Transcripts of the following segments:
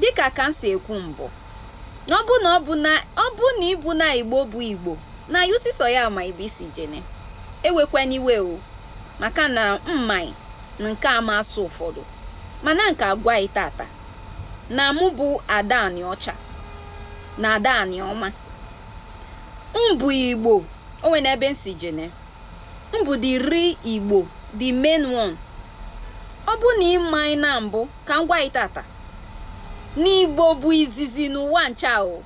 Dịka ka m si ekwu mbụ, ọ bụ, ọ bụ na ị bụna Igbo bụ Igbo, na anyị sisọ ya ma ibe i si jene. Ewekwene iwe o, maka na m maị nke a ma asụ ụfọdụ. Mana m ka agwa ị tata, na mụ bụ Ada Anịọcha na Ada Anịọma. M bụ Igbo, o nwene ebe m si jene. M bụ the real Igbo, the main one. Ọ bụ na ị maị na mbụ ka m gwa ị tata na Igbo bụ izizi n'ụwa ncha o.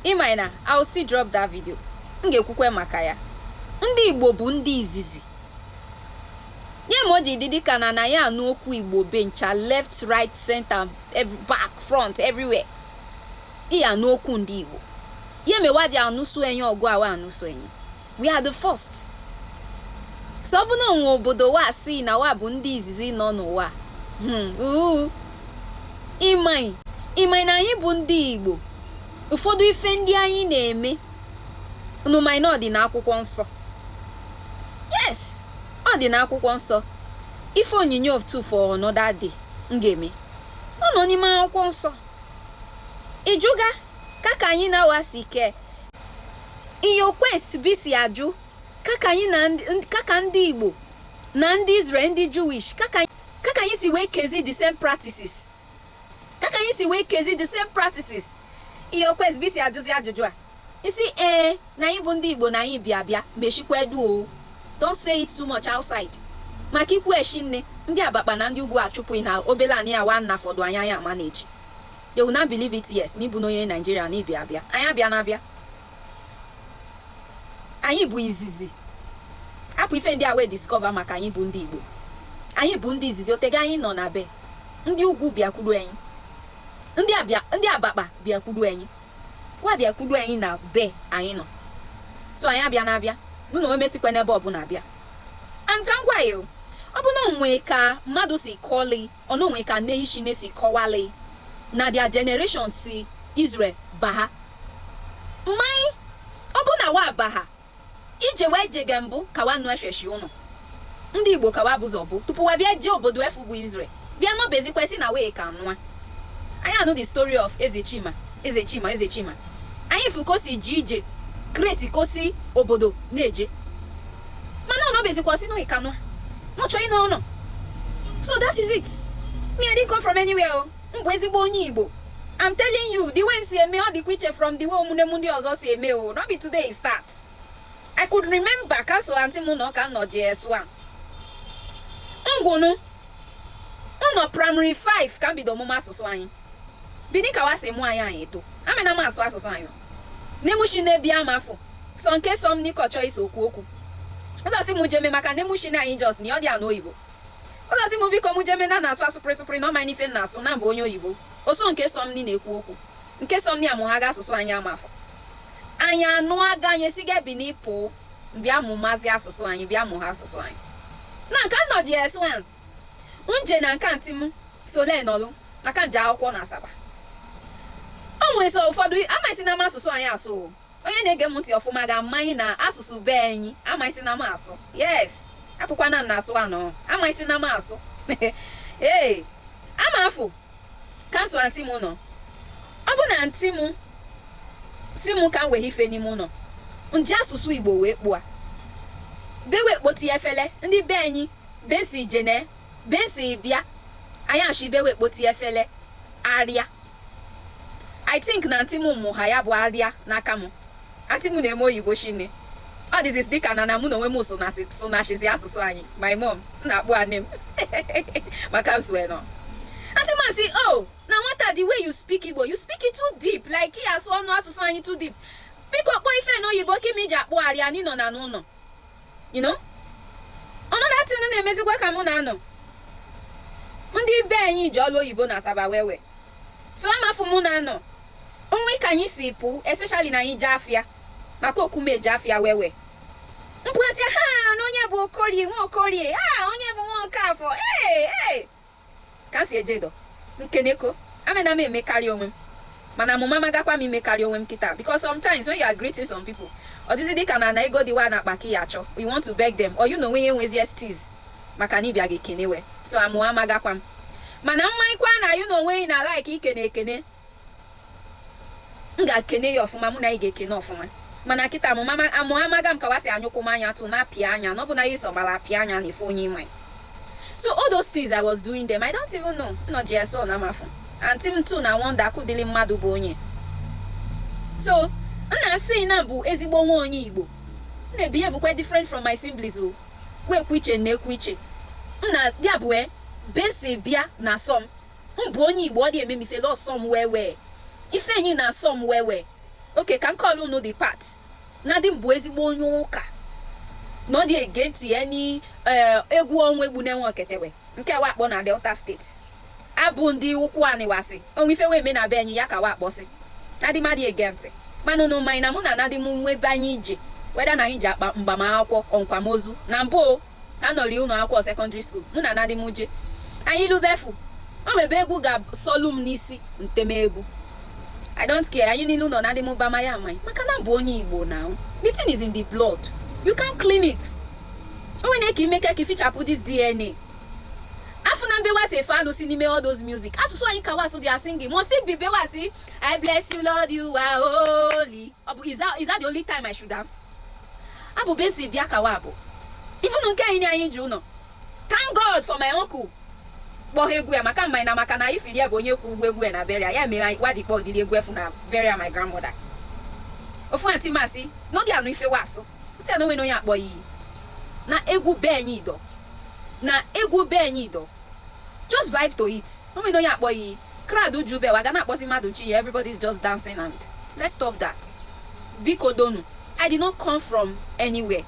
Ị maị na I will still drop that video. M ga-ekwukwe maka ya. Ndị Igbo bụ ndị izizi. Ye me o ji dị dịka na na ya anụ okwu Igbo be ncha left, right, center, back, front, everywhere. Ị ya anụ okwu ndị Igbo. Ye me wa ji anụsụ enyi ọgụ a wa anụsụ enyi. we are the first so ọ bụ na o nwe obodo wa si na wa bụ ndị izizi nọ n'ụwa hmm, uu ị maị ị maị na anyị bụ ndị igbo ụfọdụ ife ndị anyị na-eme unu maị na ọ dị n'akwụkwọ nsọ yes ọ dị n'akwụkwọ nsọ ife onyinyo too for another day m ga-eme ọ nọ n'ime akwụkwọ nsọ ị jụga kaka anyị na wa si ke Ị ya akwụsị bi si ajụ kaka anyị na ndị- ndị- kaka ndị Igbo na ndị Israel ndị Jewish kaka kaka anyị si wee kezi the same practices kaka anyị si wee kezi the same practices ị ya akwụsị bi si ajụzi ajụjụ a i sị ee na anyị bụ ndị Igbo na anyị bịa bịa meshikwa edu o don't say it too much outside maka i kwu eshinne ndị abakpa na ndị ugwu achụpụ ị na obele anị a wa nafọdụ anyị ya manage They will not believe it yes n'ị bụna onye Naijiria na ị bịa abịa anyị abịana abịa anyị bụ izizi apụ ife ndị a wee discover maka anyị bụ ndị Igbo anyị bụ ndị izizi o tega anyị nọ na be ndị ugwu bịakwudu anyị ndị abakpa bịakwudu anyị wa bịakwudu anyị na be anyị nọ so anyị abịana abịa nụ na omesikwa n'ebe ọbụla abịa and ka m gwa ị o ọ bụ na o nwe ka mmadụ si kọli Ọ na o nwe ka nation si kọwalị na their generation si Israel baha. Maị, ọ bụ na wa baha, ije wa jega mbụ ka wa nụ eshweshi ụnụ. Ndị Igbo ka wa bụzọ bụ tupu wa bịa jee obodo efu bụ Israel bịa nọbezikwa sị na wee ka nwa. Anyị anụ the story of Eze Chima eze chima eze chima anyị fụ ka o si ji ije create ka o si obodo na-eje mana ọ nọbezikwa sị n'oyi kanụ n'ọ chọ ịnọ ụlọ so that is it me i didn't come from anywhere o m bụ ezigbo onye igbo i'm telling you the way m si eme ọ dịkwa iche from the way ụmụnne m ndị ọzọ si eme o no be today e start i could remember ka so antị m na ọ ka nọ JS1 ngwụnụ mụ nọ primary 5 ka m bido ọmụmụ asụsụ anyị Bini ka wa si mụ anyị anyị eto, amena m asụ asụsụ anyị. Nne m oshie na-ebi ama afụ, sọ nke so m ni kọ chọọ iso okwu okwu. Ọ da sị mụ jeme maka nne m oshie na anyị just ni ọ dị anụ oyibo. Ọ da sị mụ biko mụ jeme na na-asụ asụpụrị sụpụrị na ọ ma n'ife na-asụ na mbụ onye oyibo. Ọ sọ nke so m ni na-ekwu okwu. Nke so m ni amụhaga asụsụ anyị ama afụ. Anyị anụ aga anyị esiga Bini pụọ bịa mụmazi asụsụ anyị bịa mụha asụsụ anyị. Na nke anọ JS1. nje na nke antị m sole nọlụ maka nje akwụkwọ na asaba o nwere so ụfọdụ amaghịsị na m asụsụ anyị asụ o. onye na-ege m ntị ọfụma ga-amanye na asụsụ be anyị amaghịsị na m asụ yes apụkwana m na asụ anọ amaghịsị na m asụ ee ama afụ ka n so antị m nọ ọ bụ na antị m sị m ka m wee ife n'ime ụlọ nji asụsụ igbo wee kpụa be wee kpoti efele ndị be anyị Besi jene, besi bịa, anyị asị be wee kpoti efele arịa. I think na antị mụ mụha ya bụ arịa n'aka mụ. Antị mụ na-eme oyibo shinne. Ọ dịzị dịka na na mụ na onwe m sụnasị sụnachizi asụsụ anyị. My mom, m na-akpọ antị m maka n so e nọ. Antị mụ asị, oh, na nwata the way you speak Igbo, you speak it too deep, like ị asụ ọnụ asụsụ anyị too deep. Biko kpọọ ife n'oyibo ka ime iji akpọ arịa anyị nọ na n'ụlọ. you know another thing na-emezikwa ka mụ na-anọ ndị be anyị ji ọlụ oyibo na asaba wewe so ama afụ mụ na-anọ o nwe ka anyị si pụ especially na anyị je afịa maka okume ji afịa wewe mkpụrụsị ha na onye bụ okorie nwa okorie a onye bụ nwa okafọ ee ee ka m si eje dọ nkeneko amena m emekarị onwe m mana amụma magakwa m imekarị onwe m kịta because sometimes when you are greeting some people ọ dịzi dịka na na ego dị wa na akpa ka ị ya achọ you want to beg them or you na onwe ya enwezi steeze maka na ị bịa ga-ekene wa so amụma magakwa m mana m marịkwa na you na onwe na-like ikene ekene m ga-ekene ya ọfụma mụ na yị ga-ekene ọfụma mana kịta amụma amụ amaga m ka wa si anyụkwụ m anya tụ na-apịa anya na ọ bụ na ya iso mara apịa anya na ife onye ị ma so all those things I was doing them I don't even know nọ JS1 ama afụ antị m too na-wonder kị ụdịrị mmadụ bụ onye so n na-asị na m bụ ezigbo nwa onye Igbo m na-behave quite different from my siblings o wee kwu iche na-ekwu iche m na ya bụ e, besi bịa na-asọ m m bụ onye igbo ọ dị eme m ifele ọ sọ m wewe ife anyị na-asọ m wewe okay ka n kọlụ unu the part na dị m bụ ezigbo onye ụka na ọ dị against any egwu eh, ọnwa egbu na-enwe oketewe nke wa kpọ na delta state abụ ndị ụkwụanị wa sị o nwe ife wa eme na be anyị ya ka wa kpọsị adị m adị against mana no mind na mụ na anadị m nwe be anyị ije whether na anyị ji akpa mgbamakwụkwọ akwamozu na mbụ anọri ụlọ akwụkwọ secondary school mụ na daddy m je anyị lue be afụ o nwebe egwu ga-asọlu m n'isi m teme egwu i don't care anyị niile ụlọ daddy m bama ya amaghị maka na m bụ onye igbo na the thing is in the blood you can't clean it o nwere ka i me ka ka i fichapụ this dna afụna m be wa sị efe alụsị n'ime all those music asụsụ anyị ka wa sụ they are singing must it be be wa sị i bless you lord you are holy ọ bụ is that, is that the only time i should dance Abụ be si bịa ka wa abụ. Even nke anyị anyị ji ụlọ. Thank God for my uncle. Kpọọ ha egwu ya maka mma na maka na I feel ya bụ onye kwụ ụgwọ egwu ya na burial ya mere anyị wa ji kpọọ ụdịrị egwu afụ na burial my grandmother. Ofu aunty m asị n'oge anụ ife wa sụ si anụ nwere onye a kpọ iyi na egwu be anyị ido na egwu be anyị ido Just vibe to it. O nwere onye a kpọ iyi. Crowd eju be wa ga na-akpọzi mmadụ chi ya everybody is just dancing and let's stop that. Biko donu, I did not come from anywhere.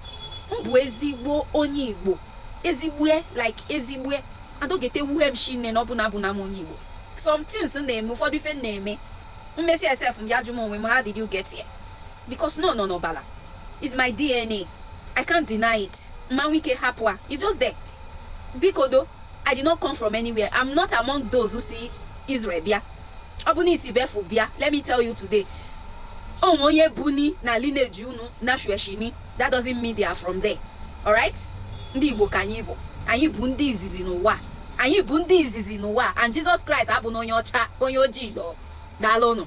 M bụ ezigbo onye Igbo. Ezigbue like ezigbue. And ọ gete wuhe m shinne na ọ bụ na abụna m onye Igbo. Some things m na-eme ụfọdụ ife m na-eme. M mesịa sef m bịa jụ m onwe m how did you get here? Because ọ nọ n'ọbala. It's my DNA. I can't deny it. Ma nwe ike hapụ ya. It's just there. Biko do, I did not come from anywhere. I'm not among those who si Israel bịa. Ọ bụ na i si be afụ bịa. Let me tell you today. O nwe onye buni na lineage unu na shweshini. That doesn't mean they are from there. Alright? Ndi Igbo ka anyị bụ. Anyị bụ ndị izizi n'ụwa. Anyị bụ ndị izizi n'ụwa. And Jesus Christ abụna onye ọcha, onye ojii dọọ. Daalụ ụnụ.